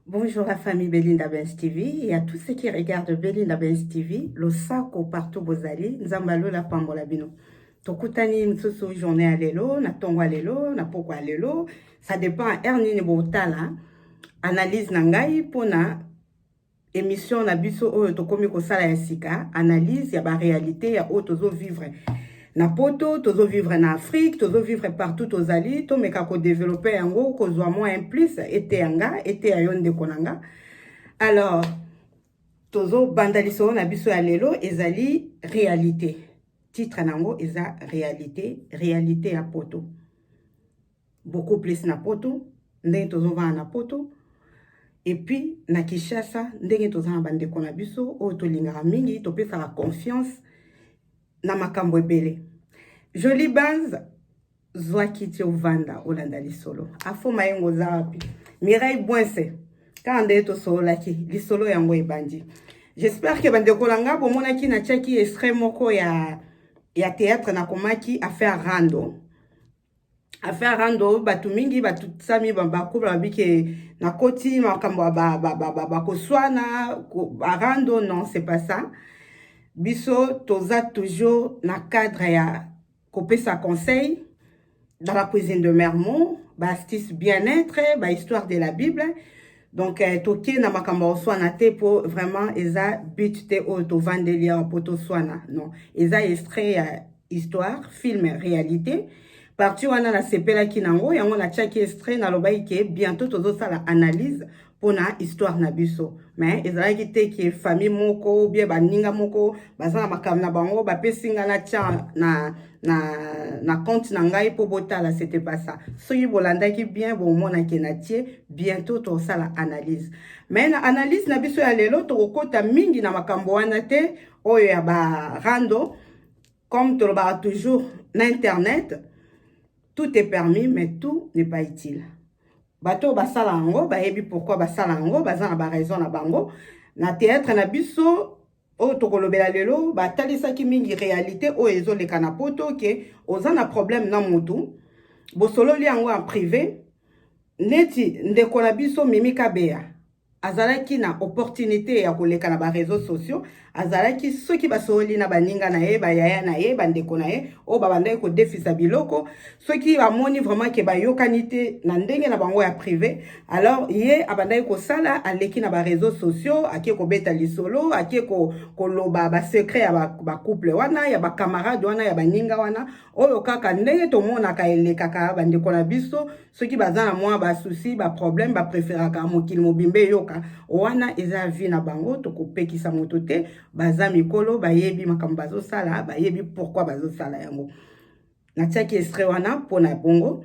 Bonjour la famille Belinda Benz TV et à tous ceux qui regardent Belinda Benz TV, le sako partout bozali, nzambalo la pambola bino. Tokutani msusu journée à lelo, na tongo à lelo, na poko à lelo, ça dépend à ernini botala, analyse na ngai pona emission na biso oyo tokomi kosala ya sika analyse ya ba réalité ya oyo tozo vivre na poto tozo vivre na afrique tozo vivre partout tozali tomeka kodevelope yango kozwa mwa un plus eteya nga eteya yo ndeko na nga alors tozobanda lisolo na biso ya lelo ezali réalité titre na yango eza réalité réalité ya poto beaucoup plus na poto ndenge tozovanda na poto epuis na kinshasa ndenge toza na bandeko na biso oyo tolingaka mingi topesaka confiance na makambo ebele joli bans zwa kiti ovanda olanda lisolo afo mayengo oza wapi mireille bwense kaka ndenge tosololaki lisolo yango ebandi j'espère ke bandeko na ngai bomonaki natiaki extrait moko ya ya théâtre nakomaki affaire rando affaire rando bato mingi batutisami bakobla babi ke nakoti makambo ya bakoswana barando non c'est pas ça biso toza toujours na cadre ya kopesa conseil dans la cuisine de mermont baastuce bien-être bahistoire de la bible donc eh, toke na makambo ya koswana te mpo vraiment eza but te oyo tovandeli awa mpo toswana non eza extrait ya histoire film réalité parti wana nasepelaki na yango yango natiaki extrait nalobaki ke bientôt tozosala analyse mpo na histoire na biso mais ezalaki te ke famille moko bie baninga moko baza na makambo na bango bapesi ngai natya na, na na, na compte na ngai mpo botala c'était pas ça soki bolandaki bien bomona ke na tie bientôt tokosala analyse mais na analyse na biso ya lelo tokokota mingi na makambo wana te oyo ya barando comme tolobaka toujours na internet tout est permis mais tout n'est pas utile bato oyo basala yango bayebi pourquoi basala yango baza na baraison na bango na théâtre na biso oyo tokolobela lelo batalisaki mingi realite oyo ezoleka na poto ke oza na problème na motu bosololi yango en privé neti ndeko na biso mimi kabeya azalaki na opportunité ya koleka na bareseau sociaux azalaki soki basololi na baninga na ye bayaya na ye bandeko na ye oyo babandaki kodefisa biloko soki bamoni vraiment ke bayokani te na ndenge na bango ya prive alors ye abandaki kosala aleki na bareseau sociaux ake kobeta lisolo ake koloba basecret ya bacouple wana ya bacamarade wana ya baninga wana oyo kaka ndenge tomonaka elekaka bandeko na biso soki baza na mwa basusi baproblème bapreferaka mokili mobimba eyoka wana eza vi na bango tokopekisa moto te baza mikolo bayebi makambo bazosala bayebi pourkui bazosala yango natiaki estre wana mpo na bongo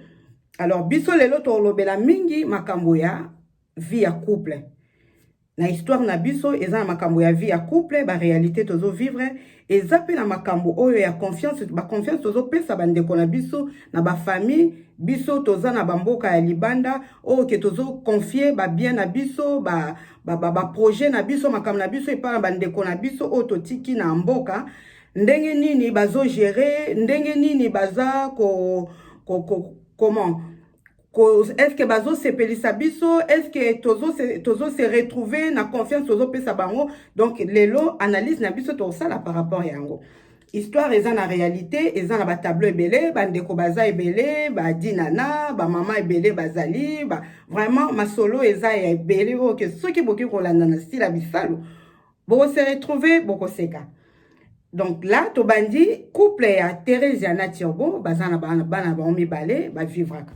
alors biso lelo tolobela mingi makambo ya vie ya couple na histoire na biso eza na makambo ya vie ya couple baréalité tozo vivre eza mpe na makambo oyo ya confiance baconfiance tozopesa bandeko na biso na bafamille biso toza na bamboka ya libanda oyo ke tozoconfie babien na biso baprojet ba, ba, ba na biso makambo na biso epai na bandeko na biso oyo totiki na mboka ndenge nini bazo gérer ndenge nini baza ko, ko, ko comment est-ce que bazo sepelisa biso est-ce que tozo se, tozo se retrouver na confiance tozo pesa bango donc lelo analyse na biso tosala par rapport yango histoire eza na réalité eza na batableau ebele bandeko baza ebele badinana bamama ebele bazali ba, vraiment masolo eza ya ebele oyo ke soki boki kolanda na style ya bisalu boko se retrouver boko seka donc là tobandi couple ya Theresia na Turbo baza na bana bana bango mibale ba vivraka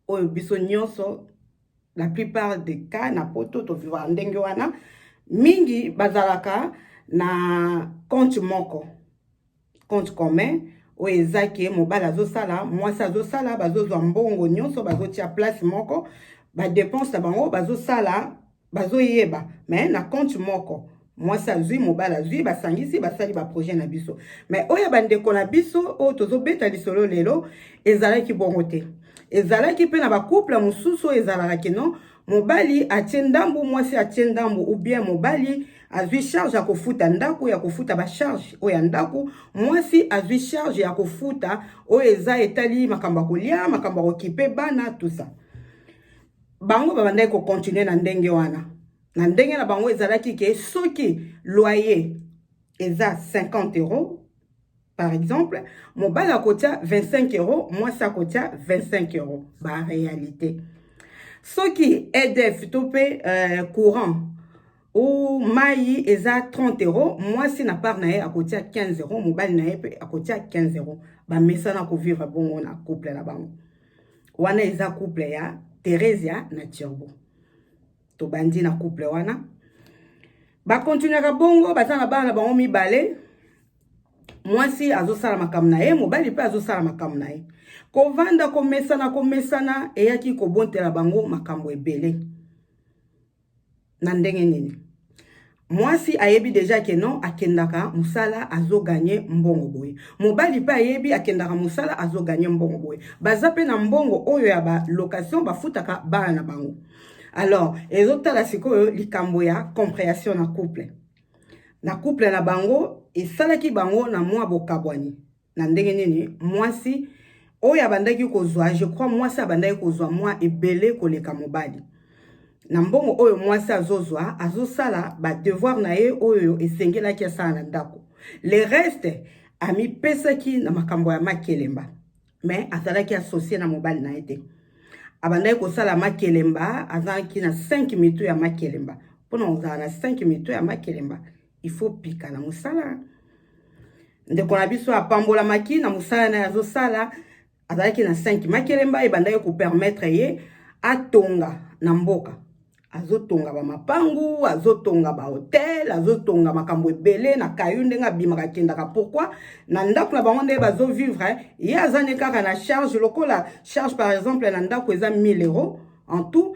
oyo biso nyonso la plupart des cas na poto to vivaka ndenge wana mingi bazalaka na compte moko compte commun oyo eza ke mobali azosala mwasi azosala bazozwa mbongo nyonso bazotia place moko badepense na bango bazosala bazoyeba me na compte moko mwasi azwi mobali azwi basangisi basali baprojet na biso me oyo ya bandeko na biso oyo tozobeta lisolo lelo ezalaki bongo te ezalaki mpe na bacouple mosusu oyo ezalaka kino mobali atie ndambu mwasi atie ndambu ou bien mobali azwi charge ya kofuta ndako ya kofuta bacharge oyo ya ndako mwasi azwi charge ya kofuta oyo eza etali makambo ya kolia makambo ya kokipe bana tusa bango babandaki kokontinue na ndenge wana na ndenge na bango ezalaki ke soki loyer eza 50 euro Par exemple, mobali akotia 25 euros, mwasi akotia 25 euros. Ba réalité. Soki EDF to pe euh, courant ou mayi eza 30 euros, mwasi na part na ye akotia 15 euros, mobali na ye pe akotia 15 euros. Ba mesana ko vivre bongo na couple na bango. Wana eza couple ya Theresia na Turbo. tobandi na couple wana bakontinuaka bongo baza na bana na bango mibale mwasi azosala makambo na ye mobali mpe azosala makambo na ye kovanda komesana komesana eyaki kobontela bango makambo ebele na ndenge nini mwasi ayebi deja ke non akendaka mosala azoganye mbongo boye mobali mpe ayebi akendaka mosala azoganye mbongo boye baza mpe na mbongo oyo ya balocation bafutaka bana na bango alors ezotala sikoyo likambo ya comprehension na couple na couple na bango esalaki bango na mwa bokabwani na ndenge nini mwasi oyo abandaki kozwa je crois mwasi abandaki kozwa mwa ebele koleka mobali na mbongo oyo mwasi azozwa azosala badevoir na ye oyo esengelaki asala na ndako le reste amipesaki na makambo ya makelemba me azalaki asosie na mobali na ye te abandaki kosala makelemba azalaki na 5 mitu ya makelemba mpona kozala na 5 mitu ya makelemba il faut pika na musala ndeko na biso apambolamaki na musala na yazo sala azalaki na 5 makelemba ebandaki ko permettre ye atonga na mboka azotonga bamapangu azotonga bahotel azotonga makambo ebele na kayu ndenge abimaka akendaka pourkui na ndako na bango nde bazovivre eh. ye aza ne kaka na charge lokola charge par exemple na ndako eza 1000 euro en tout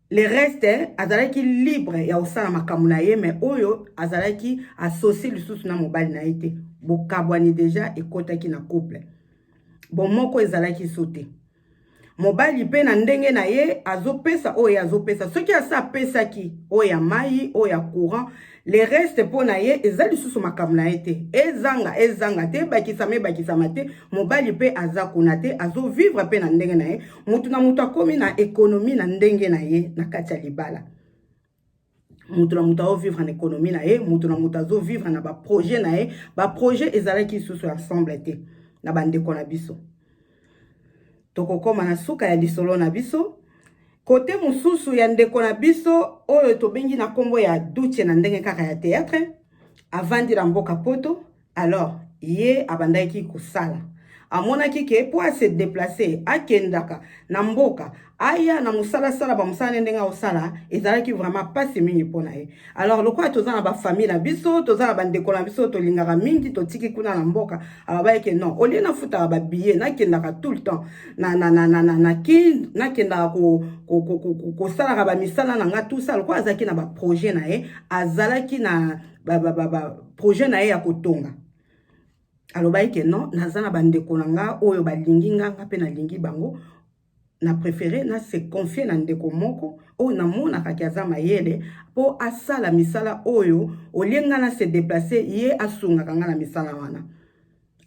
le reste azalaki libre ya kosala makambo na ye mais oyo azalaki associe lisusu na mobali na ye te bokabwani deja ekotaki na couple bomoko ezalaki so te mobali mpe na ndenge na ye azopesa oyo azopesa soki asi apesaki oyo ya mai oyo ya courant le reste mpo na ye eza lisusu makambo na ye te ezanga ezanga te ebakisama ebakisama te mobali mpe aza kuna te azovivre mpe na ndenge na ye moto na moto akomi na ekonomi na ndenge na ye na kati ya libala moto na moto azovivre na ekonomi na ye moto na moto azovivre na baprojet na ye baprojet ezalaki lisusu ensemble te na bandeko na biso Tokokoma na suka ya lisolo na biso. Kote mosusu ya ndeko na biso oyo tobengi na kombo ya Duce na ndenge kaka ya theatre, avandi na mboka Poto. Alors, ye abandaki kosala. Amonaki ke po a se deplacer, akendaka na mboka, aya na mosala asala bamosala nde ndenge akosala ezalaki vraiment mpasi mingi mpo na ye alors lokola toza na bafamille na biso toza na bandeko na biso tolingaka mingi totiki kuna na mboka ababayeke non olie nafutaka babillet nakendaka tout le temps na, na, na, na, na, na kin nakendaka ko, ko, ko, ko, ko, kosalaka bamisala na ngai tout ça lokola azalaki na baprojet na ye azalaki na baprojet ba, ba, ba, na ye ya kotonga alobaki ke non naza na bandeko na ngai oyo balingi ngai ngai mpe nalingi bango na prefere na se confier na ndeko moko oyo namonaka ke aza mayele mpo asala misala oyo olie nga na se deplace ye asungaka nga na misala wana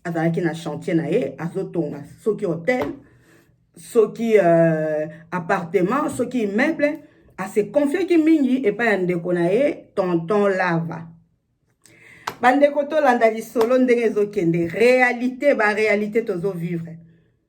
azalaki na chantier na ye azotonga soki hotel soki euh, appartement soki immeuble asekonfiaki mingi epai ya ndeko na ye tonton lava bandeko tolanda lisolo ndenge ezokende réalité baréalité tozovivre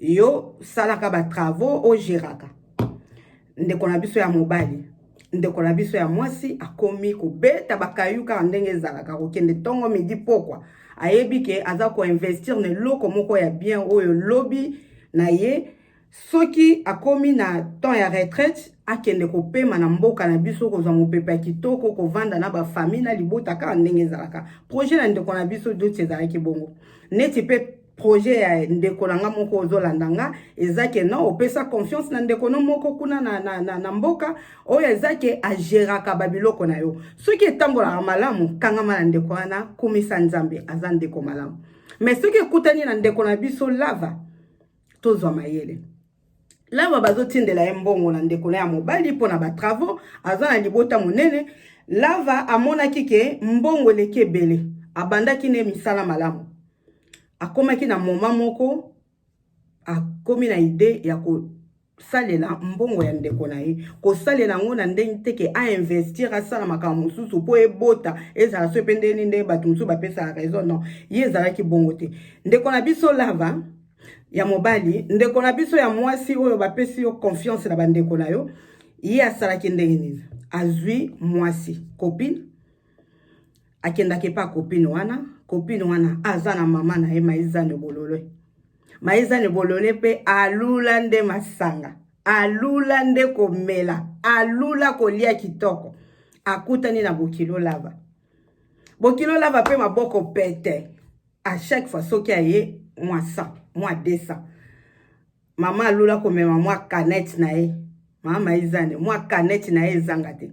yo salaka ba travaux ogeraka ndeko na biso ya mobali ndeko na biso ya mwasi akomi kobeta bakayu kaka ndenge ezalaka kokende ntongo midi pokwa ayebi ke aza koinvestir na eloko moko ya bien oyo lobi na ye soki akomi na temps ya retraite akende kopema na mboka na biso kozwa mopepe ya kitoko kovanda na bafamille na libota kaka ndenge ezalaka projet na ndeko na biso doti ezalaki bongo neti mpe projet ya ndeko na nga moko ozolanda nga eza ke non opesa confiance na ndeko no moko kuna na, na, na, na mboka oyo eza ke ageraka babiloko na yo soki etambolaka malamu kangama na ndeko wana kumisa nzambe aza ndeko malamu me soki ekutani na ndeko na biso lava tozwa mayele Lava bazotindela ye mbongo na ndeko na ya mobali mpo na batravaux, aza na libota monene. Lava amonaki ke mbongo eleki ebele, abandaki ne misala malamu. Akomaki na moma moko, akomi na ide ya kosalela mbongo ya ndeko na ye, kosalela yango na ndenge te ke ainvestir, asala makambo mosusu mpo ebota ezala soki mpe ndeni nde bato mosusu bapesaka raison, non, ye ezalaki bongo te. Ndeko na biso Lava ya mobali ndeko na biso ya mwasi oyo bapesi yo confiance na bandeko na yo ye asalaki ndenge nini azwi mwasi copine akendaki epa copine wana copine wana aza na mama na ye maizane bolole maizane bolole mpe alula nde masanga alula nde komela alula kolia kitoko akutani na bokilo lava bokilo lava mpe maboko pete à chaque fois soki aye mwa 100 mwa 200 mama alula komema mwa canette na ye mama ezane mwa canette na ye ezanga te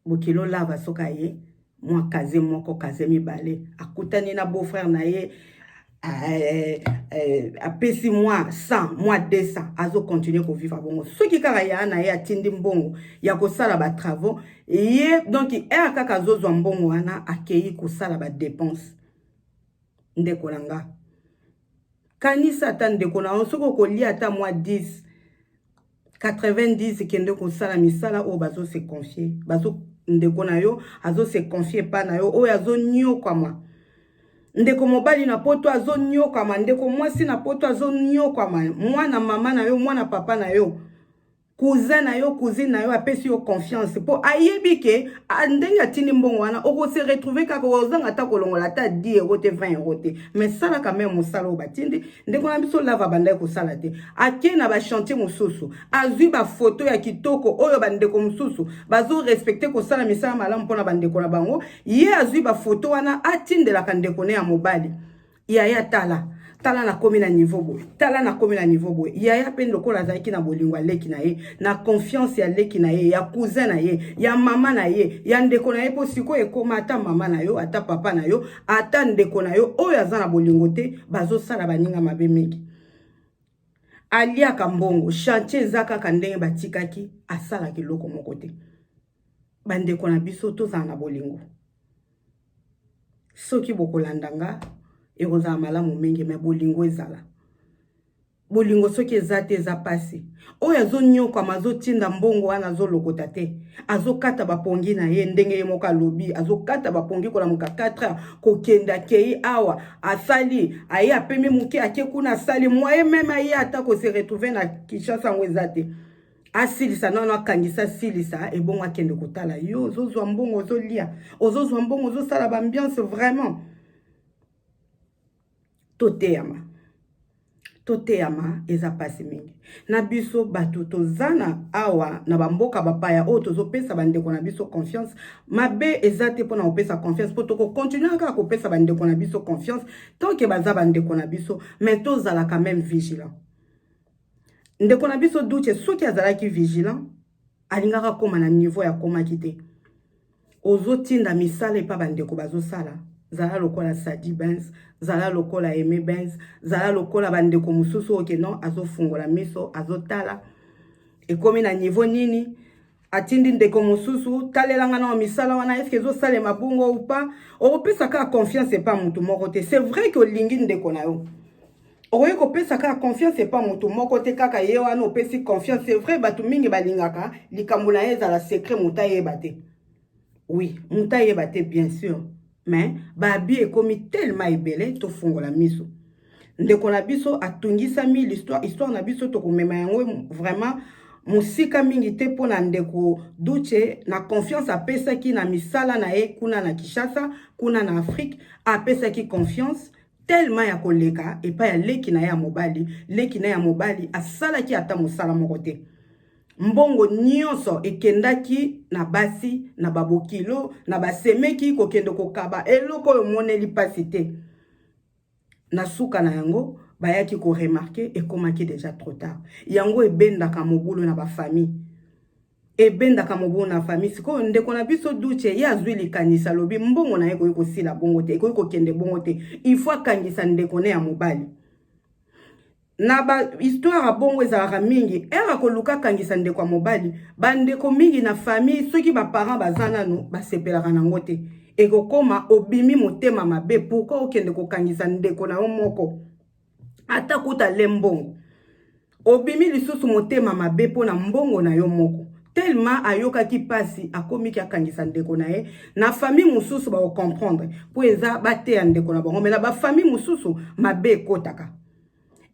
bokilo lava soki aye mwa kaze moko kaze mibale akutani na beau frère na ye eh, eh, apesi mwa 100 mwa 200 azokontinue kovivre bongo soki kaka ya na ye atindi mbongo ya kosala batravaux ye donk ere kaka azozwa mbongo wana akei kosala badepense ndeko na nga kanisa ata ndeko na yo soki okolia ata mwa 10 90 kende kosala misala oyo bazo se confier bazo ndeko na yo azo se confier epai na yo oyo azonyokwama ndeko mobali na poto azonyokwama ndeko mwasi na poto azonyokwama mwana mama na yo mwana papa na yo cousin na yo cousine na yo apesi yo confiance mpo ayebi ke ndenge atindi mbongo wana okose retrouve kaka ozanga ata kolongola ata 10 euro te 20 euro te mais salaka meme mosala oyo batindi ndeko na biso lava abandaki kosala te ake na bachantier mosusu azwi bafoto ya kitoko oyo bandeko mosusu bazorespecte kosala misala malamu mpo na bandeko na bango ye azwi bafoto wana atindelaka ndeko ne ya mobali yaya tala tala nakomi na niveau boye tala nakomi na niveau boye yaya mpe lokola azalaki na bolingo ya leki na ye na confiance ya leki na ye ya cousin na ye ya mama na ye ya ndeko na ye mpo sikoyo ekoma ata mama na yo ata papa na yo ata ndeko na yo oyo aza na bolingo te bazosala baninga mabe mingi aliaka mbongo chantier eza kaka ndenge batikaki asalaka eloko moko te bandeko na biso tozala na bolingo soki bokolanda nga ekozala malamu mingi me bolingo ezala bolingo soki eza te eza pasi oyo azonyokwama azotinda mbongo wana azolokota te azokata bapongi na ye ndenge ye moko alobi azokata bapongi kolamuka 4 heures kokende akei awa asali aye apemi moke ake kuna asali mwaye meme aye ata kose retrouve na kinshasa yango eza te asilisa nano akangisa asilisa ebongo akende kotala yo ozozwa mbongo ozolia ozozwa mbongo ozosala baambiance vraiment toteyama toteyama eza mpasi mingi na biso bato toza na awa na bamboka bapaya oyo tozopesa bandeko na biso confiance mabe eza te mpona kopesa confiance mpo tokokontinue kaka kopesa bandeko na biso confiance tanke baza bandeko na biso me tozalaka meme vigilant ndeko na biso duce soki azalaki vigilant alingaka akoma na niveau ya akomaki te ozotinda misala epa bandeko bazosala zala lokola sadi bens zala lokola aime bens zala lokola bandeko mosusu oyo ke non azofungola miso azotala ekomi na niveau nini atindi ndeko mosusu talelanga na misala wana eske ezosalema bongo ou pas okopesa kaka confiance epa motu moko te c'est vrai ke olingi ndeko na yo okoki kopesa kaka confiance epa moto moko te kaka ye wana opesi confiance c'est vrai bato mingi balingaka likambo na ye ezala secret moto ayeba te oui moto ayeba te bien sûr mais baabi ekomi tellement ebele tofungola miso ndeko na biso atungisami l'histoire histoire na biso tokomema yango vraiment mosika mingi te mpo na ndeko duce na confiance apesaki na misala na ye kuna na kinshasa kuna na afrique apesaki confiance telema ya koleka epai ya leki na ye ya mobali leki na ye ya mobali asalaki ata mosala moko te mbongo nyonso ekendaki na basi na babokilo na basemeki kokende kokaba eloko oyo omoneli mpasi te na suka na yango bayaki koremarke ekomaki deja trop tard yango ebendaka mobulu na bafamille ebendaka mobu na fami sikoyo ndeko na biso duce ye azwi likanisi alobi mbongo na ye ekoki kosila bongo te ekoki kokende bongo te ifo akangisa ndeko ne ya mobali na bahistoire ya bongo ezalaka mingi ere akoluka akangisa ndeko ya mobali bandeko mingi na famille soki baparent baza nano basepelaka na yango te ekokoma obimi motema mabe pourkui okende kokangisa ndeko na yo moko ata kuta le mbongo obimi lisusu motema mabe mpo na mbongo na yo moko tellement ayokaki pasi akomiki akangisa ndeko na ye na famille mosusu bakocomprendre mpo eza bateya ndeko na bango me na bafamille mosusu mabe ekotaka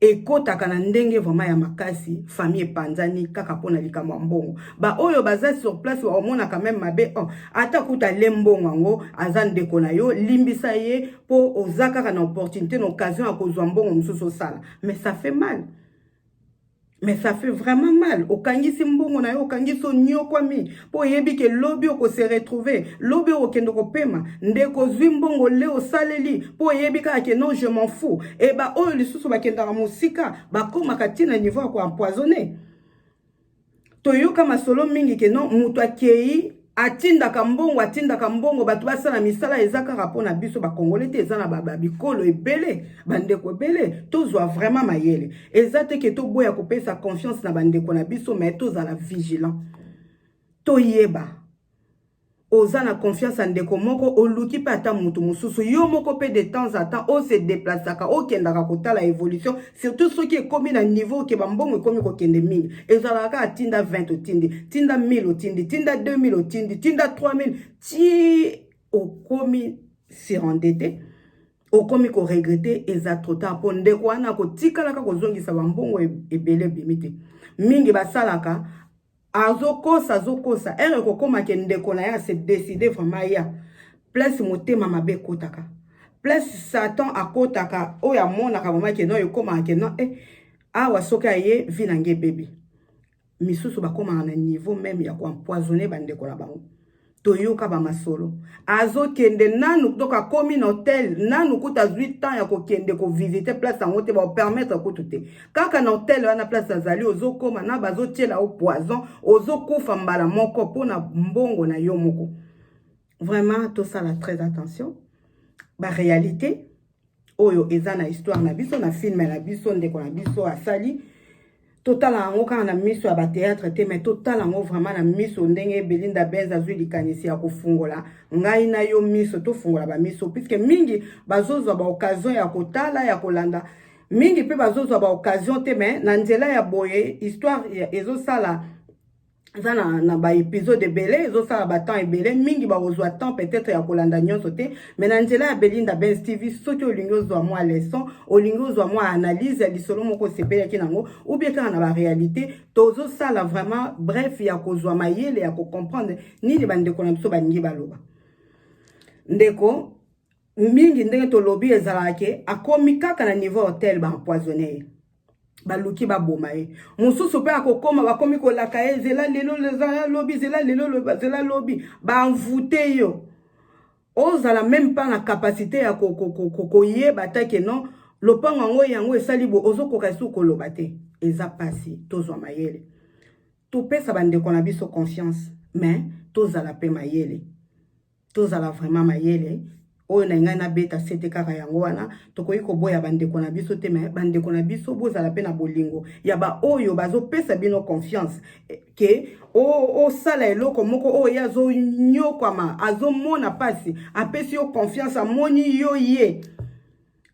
ekotaka na ndenge vraiment ya makasi famille epanzani kaka mpo na likambo ya mbongo baoyo baza sur place bakomonaka meme mabe oh, ata kuta le mbongo yango aza ndeko na yo limbisa ye po oza kaka na opportunité na occasion ya kozwa mbongo mosusu osala mais ça fait mal mais ça fait vraiment mal okangisi mbongo na yo okangisi onyokwami mpo oyebi ke lobi okose retrouve lobi okokende kopema ndeko ozwi mbongo le osaleli mpo oyebi kaka ke non je m'en fou e baoyo lisusu bakendaka mosika bakomaka ntina niveau ya koempoisonne toyoka masolo mingi ke non moto akei atindaka mbongo atindaka mbongo bato basala misala eza kaka mpo na biso bakongole te eza na babikolo ebele bandeko ebele tozwa vraiment mayele eza te ke toboya kopesa confiance na bandeko na biso mai tozala vigilant toyeba Oza na confiance ya ndeko moko, oluki pe ata mutu mususu. Yo moko pe de temps en temps o se deplacaka okendaka kotala evolution, surtout soki ekomi na niveau que ba mbongo ekomi kokende mingi. Ezalaka kaka tinda 20 otindi, tinda 1000 otindi, tinda 2000 otindi, tinda 3000 tii okomi surendette, okomi ko regretter, eza trop tard po ndeko wana akotikala kaka kozongisa ba mbongo ebele ebimi te. Mingi basalaka azokosa azokosa ere ekokoma ke ndeko na ye ase decide vraiment ya place motema mabe ekotaka place satan akotaka oyo amonaka vraiment ke non ekomaka ke non e eh, awa soki aye vi na nge ebebi misusu bakomaka na niveau meme ya koempoisonne bandeko na bango toyoka bamasolo azokende nanu donc akomi na hotel nanu kutu azwi temps ya kokende kovisite place yango te baopermettre kutu te kaka na hotel wana place azali ozokoma na bazotyela yo poison ozokufa mbala moko mpo na mbongo na yo moko vraiment tosala très attention barealité oyo eza na histoire na biso na filme na biso ndeko na biso asali totala yango kaka na miso ya bateatre te mai totala yango vraiment na miso ndenge belinda benz azwi likanisi ya kofungola ngai na yo miso tofungola bamiso puiske mingi bazozwa baoccasion ya kotala ya kolanda mingi mpe bazozwa baoccasion te mai na nzela ya boye histoire ezosala eza na, na baepisode ebele ezosala batemps ebele mingi bakozwa temps peut-être ya kolanda nyonso te mais na nzela ya belinda bens tv soki olingi ozwa mwa leçon olingi ozwa mwa analyse ya lisolo moko osepelaki nango ubie kaka na barealité tozosala vraiment bref ya kozwa mayele ya kocomprendre nini bandeko na biso balingi baloba ndeko mingi ndenge tolobi ezalaka ke akomi kaka na niveau hotel baempoisonne ye baluki baboma ye mosusu mpe akokoma bakomi kolaka ye zela lelo zela lobi zela lelo zela lobi banvute yo ozala meme mpa na kapasite ya koyeba ata ke non lopango yango yango esali bo ozokoka esu koloba te eza mpasi tozwa mayele topesa bandeko na biso confiance mais tozala mpe mayele tozala vraiment mayele oyo na ngai nabeta sete kaka yango wana tokoki koboya bandeko na biso te me bandeko na biso bozala mpe na bolingo ya baoyo bazopesa bino confiance eh, ke osala eloko moko oyo ye azonyokwama azomona mpasi apesi yo confiance amoni yo ye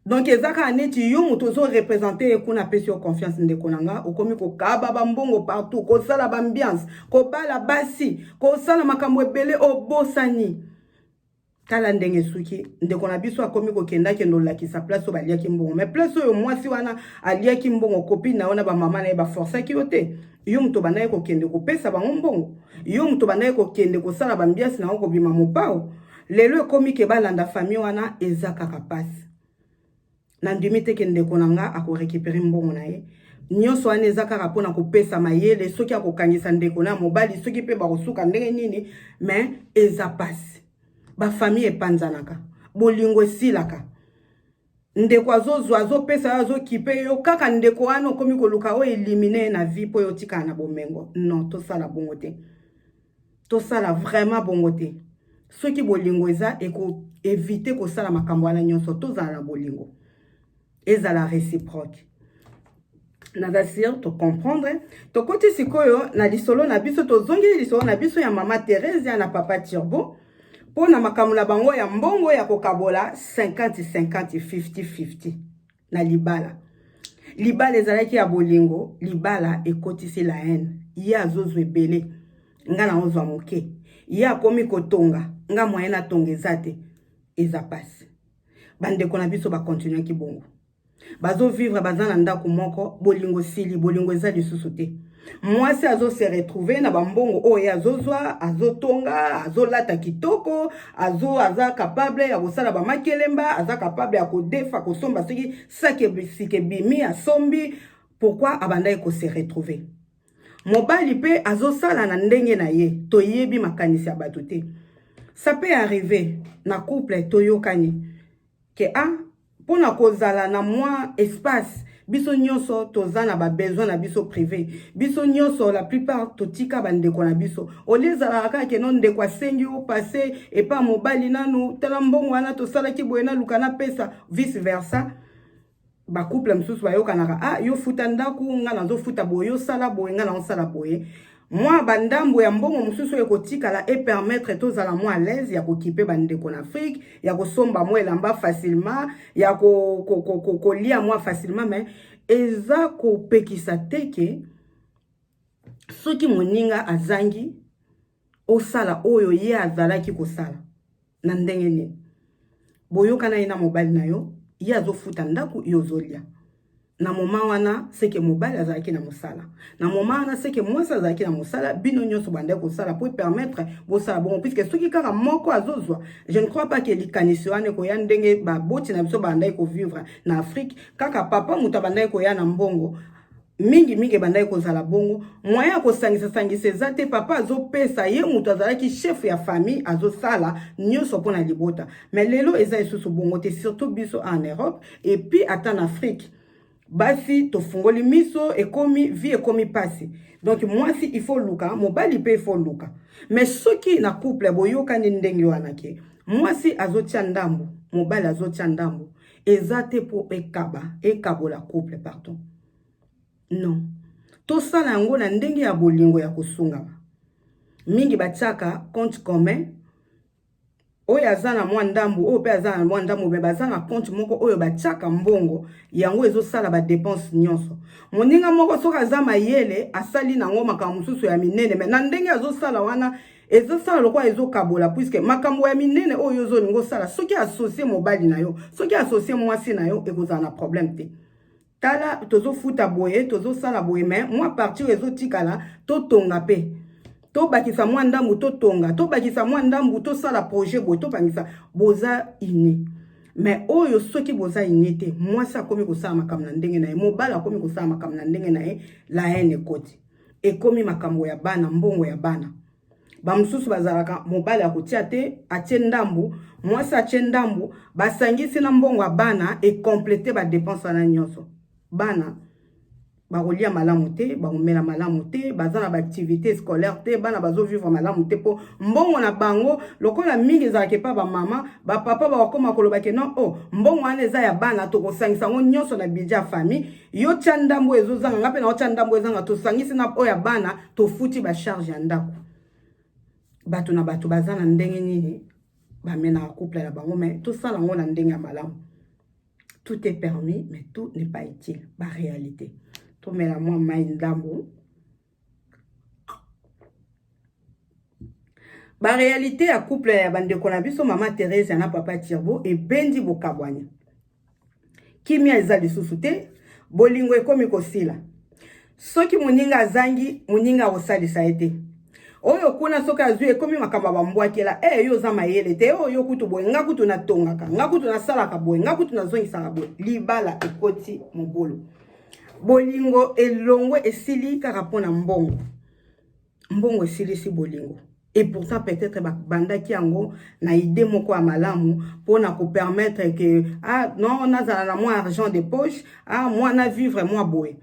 donc eza kaka neti yo moto ozo represente ye kuna apesi yo confiance ndeko na nga okomi kokaba bambongo partout kosala baambiance kobala basi kosala makambo ebele obosani tala ndenge esuki ndeko na biso akomi kokenda kende olakisa place oyo baliaki mbongo mai place oyo mwasi wana aliaki mbongo kopine na yo na bamama na ye baforsaki yo te yo moto obandaki kokende kopesa bango mbongo yo moto obandaki kokende kosala bambiasi na yango kobima mopao Lelo ekomi ke balanda famille wana eza kaka pasi. Nandimi te ke ndeko na nga ako recuperer mbongo na ye. Nyonso wana eza kaka pona kopesa mayele soki akokangisa ndeko na mobali soki pe bakosuka ndenge nini mais eza pasi. Ba famille epanzanaka. Bolingo esilaka. ndeko azozwa azopesa yo azokipe yo kaka ndeko wana okomi koluka o elimine ye na vie mpo yo otikala na bomengo non tosala bongo te tosala vraiment bongo te soki bolingo eza ekoevite kosala makambo wana nyonso tozala na bolingo ezala réciproque naza sire tocomprendre tokoti sikoyo na lisolo na biso tozongeli lisolo na biso ya mama theresia na papa turbo mpo na makambo na bango ya mbongo ya kokabola 50-50 50-50 na libala libala ezalaki ya bolingo libala ekotisi la haine ye azozwa ebele nga naozwa moke ye akomi kotonga nga moyen atonga eza te eza mpasi bandeko na biso bakontinuaki bongo bazo vivre baza na ndako moko bolingo sili bolingo eza lisusu te mwasi azo se retrouver na bambongo oyo ye azozwa azotonga azolata kitoko azo aza capable ya kosala bamakelemba aza capable ya kodefa kosomba soki sakesike bimi asombi pourkui abandaki kose retrouver mobali mpe azosala na ndenge na ye toyebi makanisi ya bato te ça peut arriver na couple toyokani Ke a pona kozala na mwa espace biso nyoso toza na ba besoin na biso prive biso nyoso la plupart totika ba ndeko na biso olie ezalaka kaka keno ndeko asengi yo passe epa mobali nanu tala mbongo wana tosalaki boye naluka napesa vice versa ba couple mosusu bayokanaka ah yo futa ndako nga nazofuta boye osala boye nga naosala boye mwa bandambo ya mbongo mosusu oyo ekotikala epermettre tozala mwa alaise ya kokipe bandeko na afrike ya kosomba mwa elamba facilement ya kolia ko, ko, ko, ko mwa facilement mais eza kopekisa te ke soki moninga azangi osala oyo ye azalaki kosala na ndenge nini boyokana ye na mobali na yo ye azofuta ndako yo ozolia na moma wana seke mobali azalaki na mosala na moma wana seke mwasi azalaki na mosala bino nyonso bandaki kosala mpo epermettre bosala bongo puiske soki kaka moko azozwa je ne crois pas ke likanisi wana ekoya ndenge baboti na biso bandaki kovivre na afrique kaka papa moto abandaki koya na mbongo mingi mingi ebandaki kozala bongo moyen ya kosangisa sangisa eza te papa azopesa ye moto azalaki chef ya famille azosala nyonso mpo na libota me lelo eza lisusu bongo te surtout biso en europe epuis ata na afrique basi tofungoli miso ekomi vie ekomi pasi donc mwasi ifo luka mobali mpe ifo luka me soki na couple boyokani ndenge wana ke mwasi azotya ndambo mobali azotya ndambo eza te mpo ekaba ekabola couple pardon non tosala yango na ndenge ya bolingo ya kosungama mingi batiaka compte commun oyo aza na mwa ndambu oyo mpe aza na mwa ndambu me baza na compte moko oyo batiaka mbongo yango ezosala badepense nyonso moninga moko soki aza mayele asali nango makambo mosusu ya minene me na ndenge azosala wana ezosala lokola ezokabola puiske makambo ya minene oyo ozolinga osala soki asosie mobali na yo soki asosie mwasi na yo ekozala na problème te tala tozofuta boye tozosala boye me mwa partir ezotikala totonga mpe tobakisa mwa ndambu totonga tobakisa mwa ndambu tosala projet boye tobangisa boza ini me oyo soki boza ini te mwasi akomi kosala makambo na ndenge na ye mobali akomi kosala makambo na ndenge na ye la haine ekoti ekomi makambo ya bana mbongo ya bana bamosusu bazalaka mobali akotia te atie ndambu mwasi atie ndambu basangisi na mbongo ya bana ekomplete badepense wana nyonso bana bakolia malamu te bakomela malamu te baza na baactivité scolaire te bana bazovivre malamu te mpo mbongo na bango lokola mingi ezalaka epa bamama bapapa bakokoma kolobake non o oh, mbongo wana eza ya bana tokosangisa yango nyonso na budget ya famille yo tya ndambo oyo ezozanga ngai mpe naotya ndambo ezanga tosangisi na oyo ya bana tofuti bacharge ya ndako bato na bato baza na ndenge nini bamenaka couple na bango mai tosala yango na ndenge ya malamu tout est permis mais tout n'est pas utile baréalité tomela mwa mai ndambo ba réalité ya couple ya bandeko na biso mama Theresia na papa Turbo ebendi bokabwani kimia eza lisusu te bolingo ekomi kosila soki moninga azangi moninga akosalisa ye te oyo kuna soki azwi ekomi makambo ya bambwakela e eh, yo oza mayele te oyo oh, kutu boye nga kutu natongaka nga kutu nasalaka boye nga kutu nazongisaka boye libala ekoti mobulu bolingo elongwe esili kaka mpo na mbongo mbongo esilisi bolingo et pourtant peut-être babandaki yango na idée moko ya malamu mpo na kopermettre ke ah non nazala na mwa argent de poche ah mwa na vivre mwa boye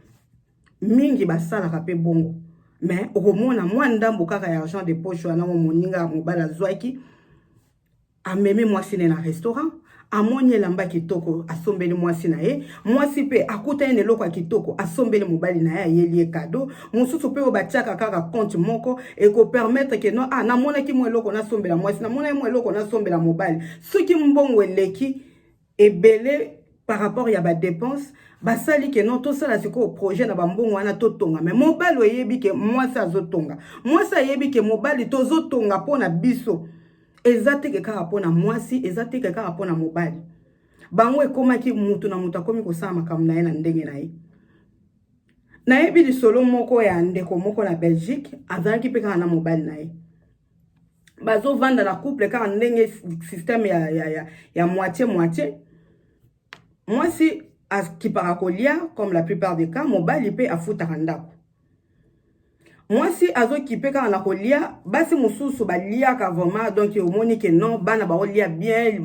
mingi basalaka mpe bongo mais okomona mwa ndambo kaka ya argent de poche wana mo moninga ya mobali azwaki amemi mwasi ne na restaurant amoni elamba kitoko asombeli mwasi na ye mwasi mpe akutani na eloko ya kitoko asombeli mobali na ye ayeli ye kado mosusu mpe oyo batiaka kaka konte moko ekopermetre ke no ah, namonaki mwa eloko nasombela mwasi namonaki mwa eloko nasombela mobali soki mbongo eleki ebele par rapport ya ba dépenses basali ke non tosala sikoyo projet na bambongo wana totonga me mobali oyebi ke mwasi azotonga mwasi ayebi ke mobali tozotonga mpo na biso eza teke kaka mpo na mwasi eza teke kaka mpo na mobali bango ekomaki motu na motu akomi kosala makambo na ye na ndenge na ye nayebi lisolo moko ya ndeko moko na belgique azalaki mpe kaka na mobali na ye bazovanda na couple kaka ndenge systeme ya, ya, ya, ya moitié moitié mwasi akipaka kolia comme la plupart des cas mobali mpe afutaka ndako mwasi azokipe kaka na kolia basi mosusu baliaka vraiment donc omoni ke non bana baolia bien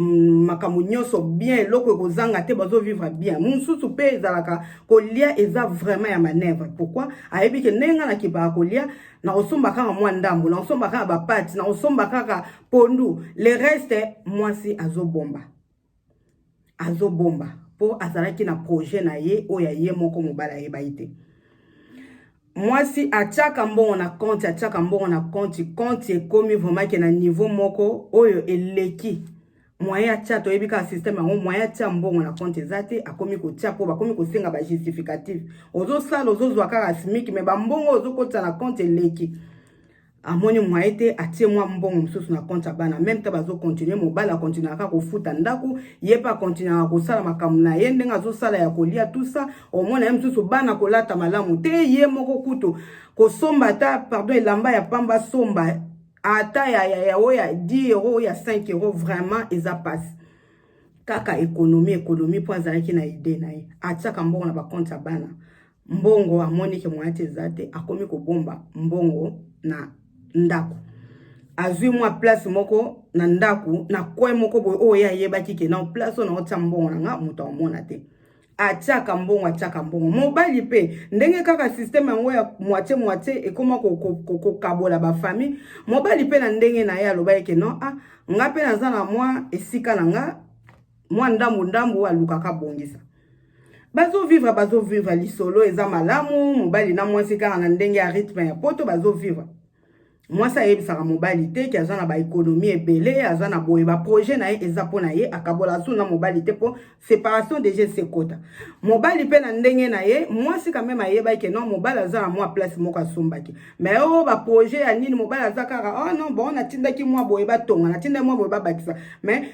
makambo nyonso bien eloko ekozanga te bazovivre bien mosusu mpe ezalaka kolia eza vraiment ya manevre pourquoi ayebi ke ndenge nga nakipaka kolia nakosomba kaka mwa ndambo nakosomba kaka bapati nakosomba kaka pondu le reste mwasi azobomba azobomba mpo azalaki na projet na ye oyo ya ye moko mobali ayebaki te mwasi atiaka mbongo na konti atiaka mbongo na konti konti ekomi vraimentke na niveau moko oyo eleki moyen ya tia toyebi kaka systeme yango moyen ya tia mbongo na compte eza te akomi kotia mpo bakomi kosenga bajustificative ozosala ozozwa kaka smiki me bambongo ozokotisa na compte eleki amoni moyen te atie mwa mbongo mosusu na compte ya bana meme te bazokontinue mobali akontinuaka kaka kofuta ndako ye mpe akontinuaka kosala makambo na ye ndenge azosala ya kolia tusa omona ye mosusu bana kolata malamu te ye moko kutu kosomba ata pardon elamba ya pamba asomba ata ya ya ya oyo ya 10 euro oyo ya 5 euro vraiment eza pasi kaka ekonomi ekonomi mpo azalaki na ide na ye atiaka mbongo na bakonte ya bana mbongo amoni ke moyen te eza te akomi kobomba mbongo na ndako azwi mwa place moko na ndako na coin moko boye oyo ye ayebaki ke na place oyo naotia mbongo na nga moto aomona te atiaka mbongo atiaka mbongo mobali mpe ndenge kaka systeme yango ya moitie moitie ekoma kokabola bafamille mobali mpe na ndenge na ye aloba eke non a ah, nga mpe naza na mwa esika na nga mwa ndambu ndambu alukaka abongisa bazovivre bazovivre lisolo eza malamu mobali na mwasi kaka na ndenge ya rythme ya poto bazovivre mwasi ayebisaka mobali te ke aza na baekonomi ebele aza na boye baprojet na ye eza mpo na ye akabola asu na mobali te mpo séparation déjà esekota mobali mpe na ndenge na ye mwasi kameme ayebaki ke non mobali aza na mwa place moko asombaki mai o oh, baprojet ya nini mobali aza kaka oh non bon natindaki mwa boye batonga natindaki mwa boye babakisa mai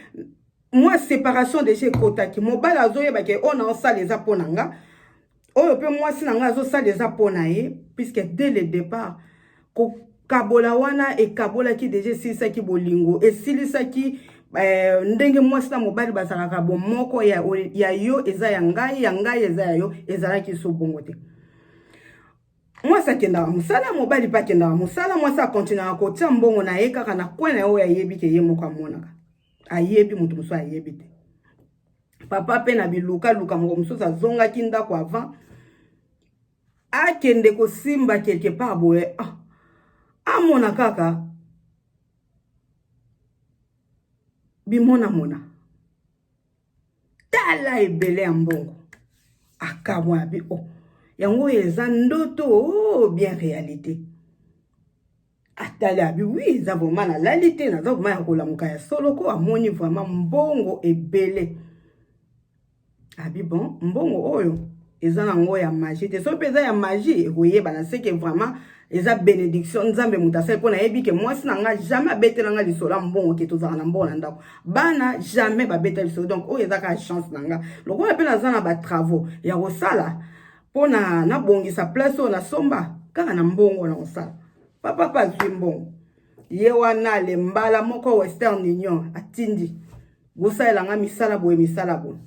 mwa separation deja ekotaki mobali azoyeba ke oyo naosala eza mpo na nga oyo mpe mwasi na ngai azosala eza mpo na ye puisque dès le départ kokabola wana ekabolaki deja esilisaki bolingo esilisaki eh, ndenge mwasi na mobali bazalaka bomoko ya, ya yo eza ya ngai ya ngai eza ya yo ezalaki so bongo te mwasi akendaka mosala mobali mpe akendaka mosala mwasi akontinaka kotya mbongo na ye kaka na kwe na ye oyo ayebi ke ye moko amonaka ayebi moto mosusu ayebi te papa mpe na bilukaluka moko mosusu azongaki ndako avant akende kosimba quelque part boye ah, amona kaka bimonamona tala ebele ya mbongo akamwa abi o oh, yango oyo eza ndoto o oh, bien réalité atali abi wi eza vraimen nalali te naza vraimen ya kolamuka ya solo ko amoni vraimen mbongo ebele abi bon mbongo oyo eza na ngo ya magie te soki mpe eza ya magie ekoyebana seke vraimen eza benediction nzambe moto asali mpo nayebi ke mwasi na ngai jamais abetela ngai lisolo ya mbongo ke tozalaka na mbongo na ndako bana jamais babeta lisolo donc oyo ezaka chance na ngai lokola mpe naza na batravaux ya kosala mpo na nabongisa place oyo nasomba kaka na mbongo na kosala papa mpe azwi mbongo ye wana le mbala moko western union atindi bosalela nga misala boye misala boye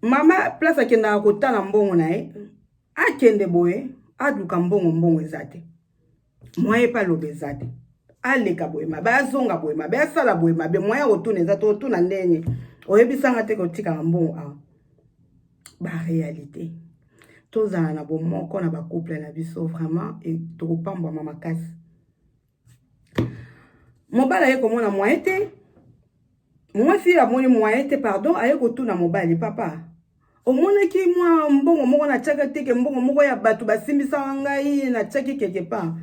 mama place akendaka kotala mbongo na ye akende boye aluka mbongo mbongo eza te moyen epa aloba eza te aleka boye mabe azonga boye mabe asala boye mabe moyen kotuna eza te otuna ndenge oyebisanga te kotikanga mbongo awa barealité tozala na bomoko na bacouple na biso vraiment e, tokopambwama makasi mobali aye komona moyen te mwasi amoni moyen te pardon aye kotuna mobali papa omonaki mwa mbongo moko natiaka teke mbongo moko ya bato basimbisaka ngai natiaki quelque part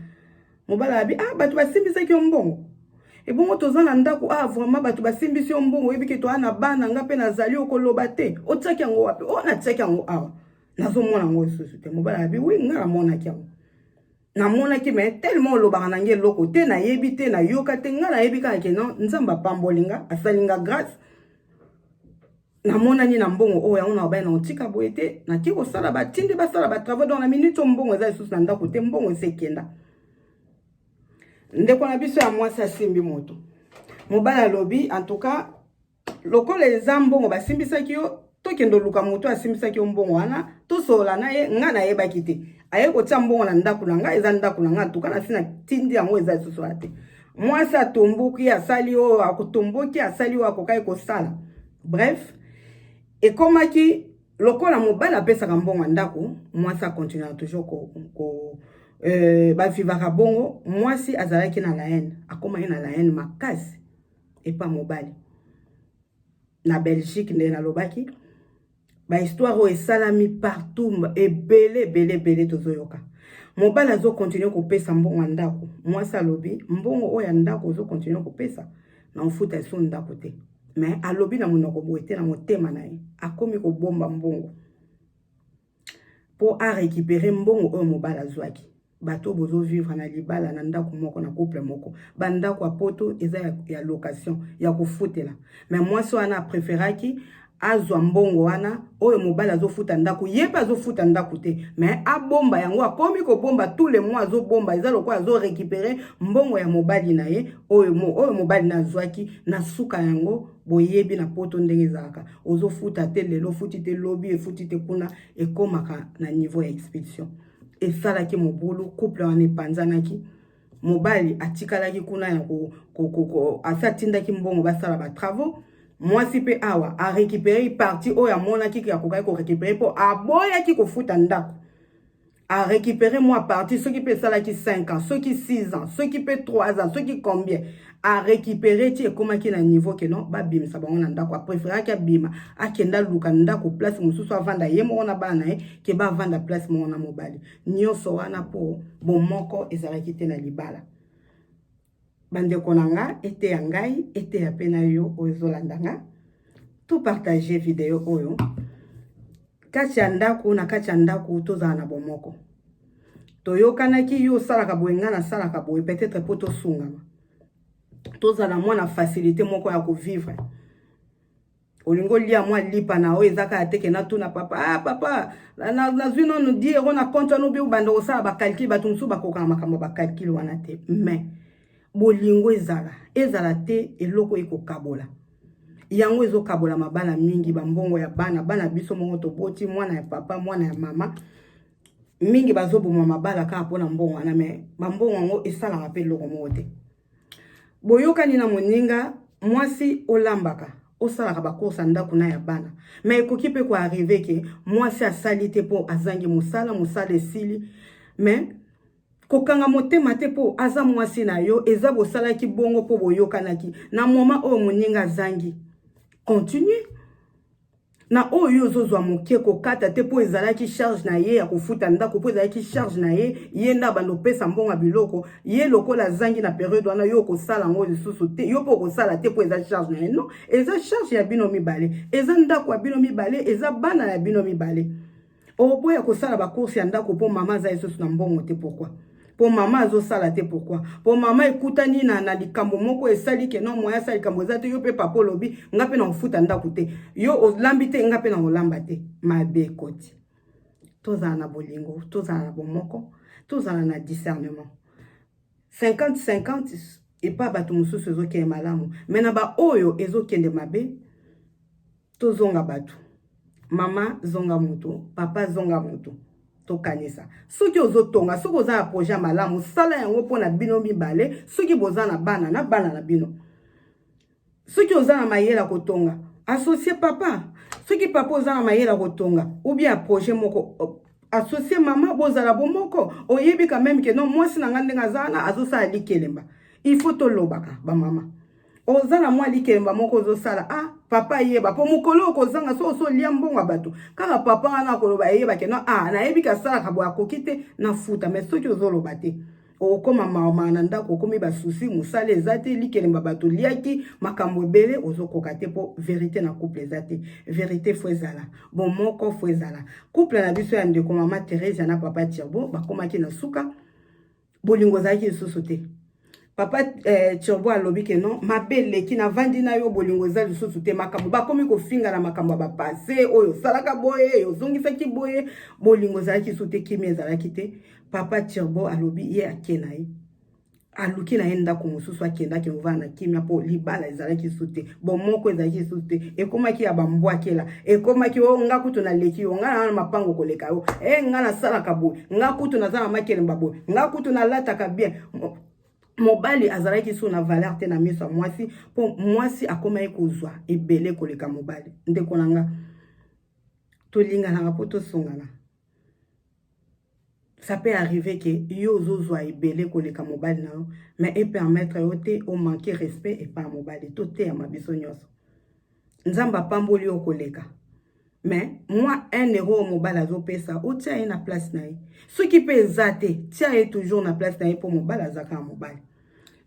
mobala yabi ah bato basimbisaki yo mbongo ebongo toza na ndako ah vraiment bato basimbisi yo mbongo oyebi ke toa na bana nga mpe nazali okoloba te otiaki yango wapi o oh, natiaki yango awa nazomona yango lisusu te mobala yabi wi nga namonaki yango namonaki me tellement olobaka na ngai eloko te nayebi te nayoka te nga nayebi kaka ke non nzambe apamboli nga asali nga grâce namonani na mbongo oyo yango nalobaki na otika boye te nake kosala batinde basala batravau donc na minute oyo mbongo eza lisusu na ndako te mbongo esi ekenda ndeko na biso ya mwasi asimbi moto mobali alobi antuka lokola eza mbongo basimbisaki yo tokende oluka moto asimbisaki yo mbongo wana tosolola na ye ngai nayebaki te aye kotia mbongo na ndako na ngai eza ndako na ngai antuka nasi natindi yango eza lisusu wana te Mwasi atomboki asali oyo akotomboki asali oyo akokaki kosala. Bref, ekomaki lokola mobali apesaka mbongo ya ndako, mwasi akontinuaka toujours ko, ko euh, bavivaka bongo. Mwasi azalaki na laine, akomaki na laine makasi epa mobali na Belgique, ndenge nalobaki ba histoire oyo esalami partout ebele ebele ebele tozoyoka mobali azokontinue kopesa mbongo ya ndako mwasi alobi mbongo oyo ya ndako ozokontinue kopesa na ofuta eso ndako te me alobi na monoko boye te na motema na ye akomi kobomba mbongo mpo arekipere mbongo oyo mobali azwaki bato oyo bozo vivre na libala na ndako moko na couple moko bandako ya poto eza ya, ya location ya kofutela me mwasi wana apreferaki azwa mbongo wana oyo mobali azofuta ndako ye mpe azofuta ndako te me abomba yango akomi kobomba tout le mois azobomba eza lokola azorekipere mbongo ya mobali na ye oyo, mo, oyo mobali na azwaki na suka yango boyebi na poto ndenge ezalaka ozofuta te lelo ofuti te lobi efuti te kuna ekomaka na niveau ya expulsion esalaki mobulu couple wana epanzanaki mobali atikalaki kuna ya asi atindaki mbongo basala batravaux mwasi mpe awa arekipere parti oyo amonaki akokaki korekipere mpo aboyaki kofuta ndako arekipere mwa parti soki mpe esalaki 5 ans soki 6 ans soki mpe 3 ans soki combien a récupérer ti ekomaki na niveau que non babimisa bango na ndako apréféraki abima akenda luka ndako place mosusu avanda ye moko na bana na ye ke bavanda place moko na mobali nyonso wana mpo bomoko ezalaki te na libala bandeko na nga eteya ngai eteya mpe na yo oyo ezolanda nga to partage video oyo kati ya ndako na kati ya ndako tozala na bomoko toyokanaki yo osalaka boye ngai nasalaka boye peut-être mpo tosungama tozala mwa na facilité moko ya kovivre olingi olia mwa lipa na oyo eza kaka teke natuna papa ah, papa nazwi na, na nanu di ero na compte wana obi obanda kosala bacalcule bato mosusu bakokaka makambo ya bacalcule wana te mais bolingo ezala ezala te eloko ekokabola yango ezokabola mabala mingi bambongo ya bana bana biso moko toboti mwana ya papa mwana ya mama mingi bazoboma mabala kaka mpo na mbongo wana me bambongo yango esalaka mpe eloko moko te boyokani na moninga mwasi olambaka osalaka bakursa ndako na ya bana me ekoki mpe koarrive ke mwasi asali te mpo azangi mosala mosala esili me kokanga motema te mpo aza mwasi na yo eza bosalaki bongo mpo boyokanaki na moma oyo moninga azangi continue na oyo yo ozozwa moke kokata te mpo ezalaki charge na ye ya kofuta ndako mpo ezalaki charge na ye ye nde abanda opesa mbongo biloko ye lokola azangi na periode wana yo okosala yango lisusu te yo mpe okosala te mpo eza charge na ye non eza charge ya bino mibale eza ndako ya bino mibale eza bana ya bino mibale oboya kosala bacourse ya ndako mpo mama aza lisusu na mbongo te pourkui mpo mama azosala te pourkui mpo mama ekutani na, na likambo moko esali ke no moya asala likambo eza te yo mpe papa olobi nga mpe na kofuta ndako te yo olambi te nga mpe na kolamba te mabe ekoti tozala na bolingo tozala na bomoko tozala na discernement 50 50 epa bato mosusu ezokende malamu me na baoyo ezokende mabe tozonga bato mama zonga moto papa zonga moto tokanisa soki ozotonga soki oza na projet ya malamu sala yango mpo na bino mibale soki boza na bana na bana na bino soki oza na mayele ya kotonga associe papa soki papa oza na mayele ya kotonga ubie ya projet moko associe mama bozala bomoko oyebi quand meme ke no mwasi na ngai ndenge aza wana azosala likelemba il faut tolobaka bamama oza na mwa likemba moko ozosala ah papa yeba po mokolo okozanga so osolia mbongo ya bato kaka papa wana akoloba eyeba keno ah nayebi ke asalaka boye akoki te nafuta mai soki ozoloba te okokoma mawamaa na ndako okomi basusi mosala eza te likelemba bato liaki makambo ebele ozokoka te mpo verite na couple eza te verite fo ezala bomoko fo ezala couple na biso ya ndeko mama theresia na papa tirbo bakomaki na suka bolingo ezalaki lisusu te papa eh, turbo alobi ke non mabe eleki navandi na yo bolingo eza lisusu te makambo bakomi kofinga na makambo ya bapase oyo osalaka boye ozongisaki boye bolingo ezalaki lisusu te kimi ezalaki te papa turbo alobi ye ake na ye aluki na ye ndako mosusu akendaki kovanda na kimia mpo libala ezalaki lisusu te bomoko ezalaki lisusu te ekomaki ya bambwakela ekomaki o oh, nga kutu naleki yo nga naa na mapango koleka yo e eh, nga nasalaka boye nga kutu naza na makelemba boye nga kutu nalataka bien mobali azalaki so na valeur te na miso ya mwasi mpo mwasi akomaki kozwa ebele koleka mobali ndeko na nga tolinganaka mpo tosungana ça peut arriver que yo ozozwa ebele koleka mobali na yo mais e permettre yo te o manquer respect epa mobali toteyama biso nyonso nzambe apamboli yo koleka mais mwa 1 euro oyo mobali azopesa otia ye na place na ye soki mpe eza te tia ye toujours na place na ye mpo mobali azaka ya mobali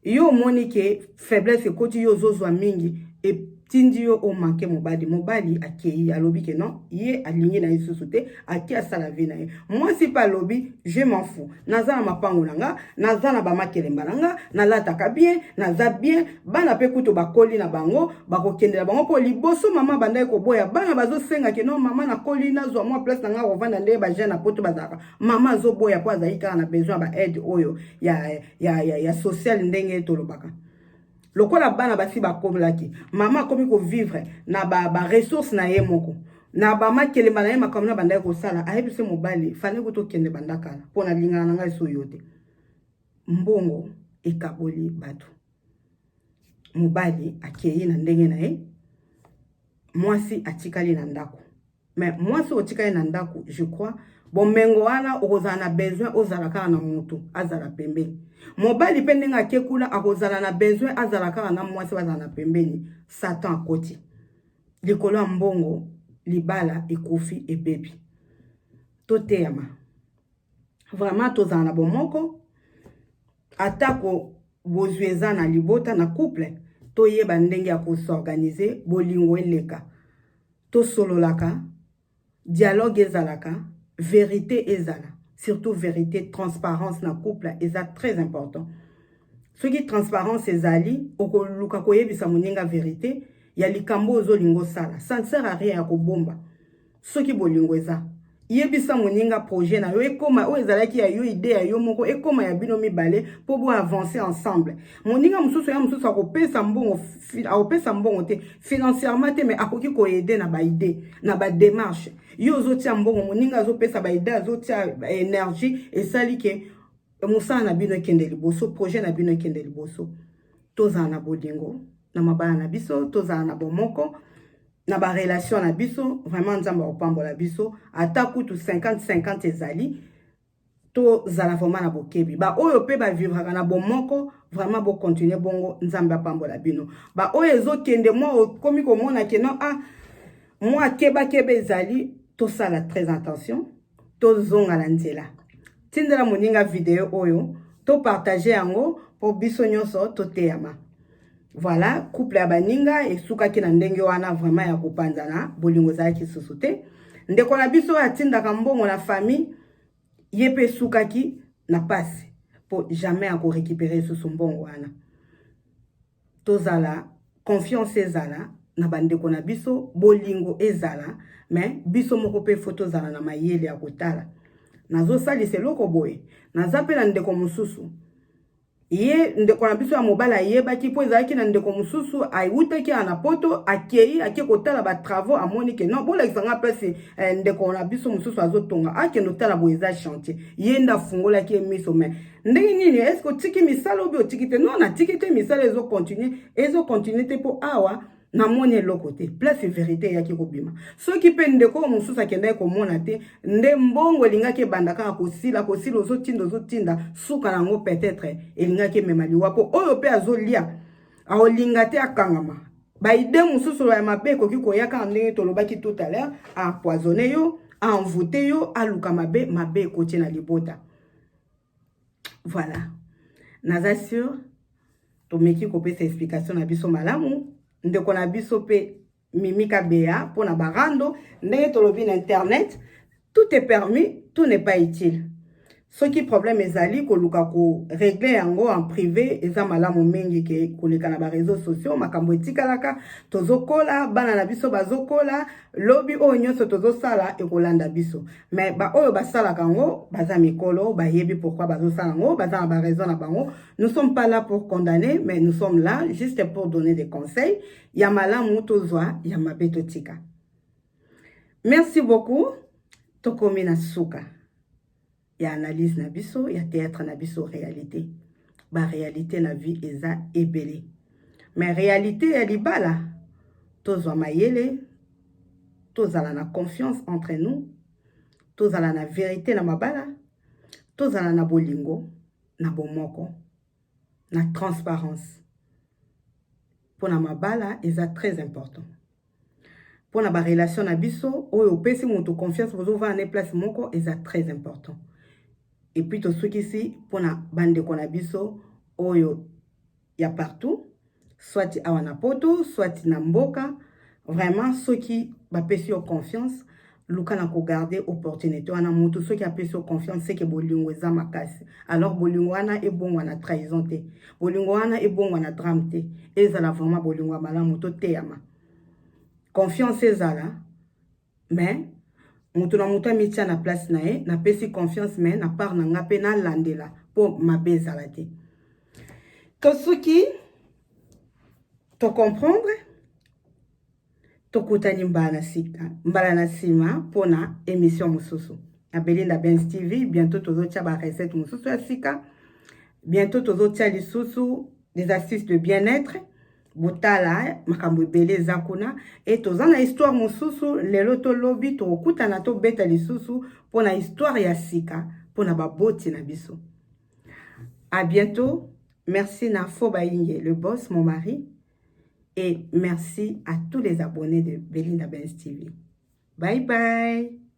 yo omoni ke faiblesse ekoti yo ozozwa mingi etindi yo omake mobali mobali akei alobi ke non ye alingi na ye lisusu te ake asala vi na ye mwasi mpe alobi je manfu naza na mapango na nga naza na bamakelemba na nga nalataka bien naza bien bana mpe kutu bakoli na bango bakokendela bango mpo liboso mama bandaki koboya bana bazosenga ke non mama nakoli nazwa mwa place na nga kovanda nde bajeune na poto bazalaka mama azoboya mpo azali kaka na besoin ya baaide oyo ya ya, ya, ya social ndenge tolobaka lokola bana basi bakomelaki mama akomi kovivre na baressource ba na ye moko na bamakelemba na ye makambo na bandaki kosala ayebi se mobali fani kutu okende banda kala mpo na lingana na ngai so yo te mbongo ekaboli bato mobali akei na ndenge na ye mwasi atikali na ndako mais mwasi otika ye na ndako je crois bomengo wana okozala na besoin ozala kaka na motu azala pembeni mobali mpe ndenge ake kuna akozala na besoin azala kaka na mwasi bazala na pembeni satan akoti likolo ya mbongo libala ekufi ebebi toteyama vraiment tozala na bomoko atako bozwi eza na libota na couple toyeba ndenge ya kosorganize bolingo eleka Tosololaka, dialogue ezalaka, verite ezala. Surtout verite, transparence na couple eza très important. Soki transparence ezali, okoluka koyebisa moninga verite ya likambo ozolinga osala. Ça ne sert à rien ya kobomba soki bolingo eza. Yebisa moninga projet na yo ekoma oyo ezalaki ya yo idee ya yo moko ekoma ya bino mibale mpo bo avancer ensemble. Moninga mosusu ya mosusu akopesa mbongo akopesa mbongo te financièrement te mais akoki koyede na baide na bademarche yo ozotia mbongo moninga azopesa baide azotia energie esali ke mosala na bino ekende liboso projet na bino ekende liboso tozala na bolingo na mabala na biso tozala na bomoko na ba relation na biso vraiment nzambe akopambola biso ata kutu 50-50 ezali tozala vraiment na bokebi baoyo mpe bavivraka na bomoko vraiment bokontinue bongo nzambe apambola bino baoyo ezokende mwa okomi komona keno a ah, mwa kebakeba ezali tosala très attention tozonga na nzela tindela moninga video oyo topartage yango mpo biso nyonso toteyama voilà couple ya baninga esukaki na ndenge wana vraiment ya kopanzana bolingo ezalaki lisusu te ndeko na biso oyo atindaka mbongo na famille ye mpe esukaki na pasi mpo jamais akorekipere lisusu mbongo wana tozala confiance ezala na bandeko na biso bolingo ezala me biso moko mpe fo tozala na mayele ya kotala nazosalisa eloko boye naza mpe na ndeko mosusu ye ndeko na biso ya mobali ayebaki mpo ezalaki na ndeko mosusu awutaki awa na poto akei ake kotala batravaux amoni ke non bolakisa nga place eh, ndeko na biso mosusu azotonga akende otala boye eza chantier ye nde afungolaki ye miso mai ndenge nini eske otiki misala obi otiki te non natiki te misala ezo continue ezo continue te mpo awa namoni eloko te place verité eyaki kobima soki mpe ndeko oyo mosusu akendaki komona te nde mbongo elingaki ebanda kaka kosila kosila ozotinda ozotinda suka na yango peut-être elingaki emema liwa mpo oyo mpe azolia aolinga te akangama baide mosusu ya mabe ekoki koya kaka ndenge tolobaki tout à l'heure apoisonne yo envoute yo aluka mabe mabe ekotie na libota Voilà. Naza sur tomeki kopesa explication na biso malamu ndeko na biso mpe Mimi Kabeya mpo na barando ndenge tolobi na internet tout est permis tout n'est pas utile soki problème ezali koluka koregle yango en privé eza malamu mingi ke koleka na bareseau sociaux makambo etikalaka tozokola bana na biso bazokola lobi oyo nyonso tozosala ekolanda biso me baoyo basalaka yango baza mikolo bayebi pourkui bazosala yango baza na baraison na bango nous sommes pas là pour condamner mais nous sommes là juste pour donner des conseils ya malamu tozwa ya mabe totika merci beaucoup tokomi na suka ya analyse na biso ya théâtre na biso réalité baréalité na vie eza ebele me réalité ya libala tozwa mayele tozala na confiance entre nous tozala na verite na mabala tozala na bolingo na bomoko na transparence mpo na mabala eza très important mpo na barelation na biso oyo opesi moto confiance bozovanda ne place moko eza très important epuis tosukisi mpo na bandeko na biso oyo ya partout soit awa na poto soit na mboka vraiment soki bapesi yo confiance luka na kogarde opportunité wana motu soki apesi yo confiance seke bolingo eza makasi alors bolingo wana ebongwa na trahison te bolingo wana ebongwa na drame te ezala vraiment bolingo ya malamu toteyama confiance ezala mais moto na moto amitia na place na ye napesi confiance mais na part na nga mpe nalandela mpo mabe ezala te to soki tocomprendre tokutani mbala na sika mbala na nsima mpo na émission mosusu na belinda bens tv bientôt tozotya barecette mosusu ya sika bientôt tozotya lisusu des astuces de bien-être botala eh, makambo ebele eza kuna e toza na histoire mosusu lelo to lobi tokokutana tobeta lisusu mpo na histoire ya sika mpo na baboti na biso à bientôt merci na fo bayinge le boss mon mari et merci à tous les abonnés de belinda bens tv bye bye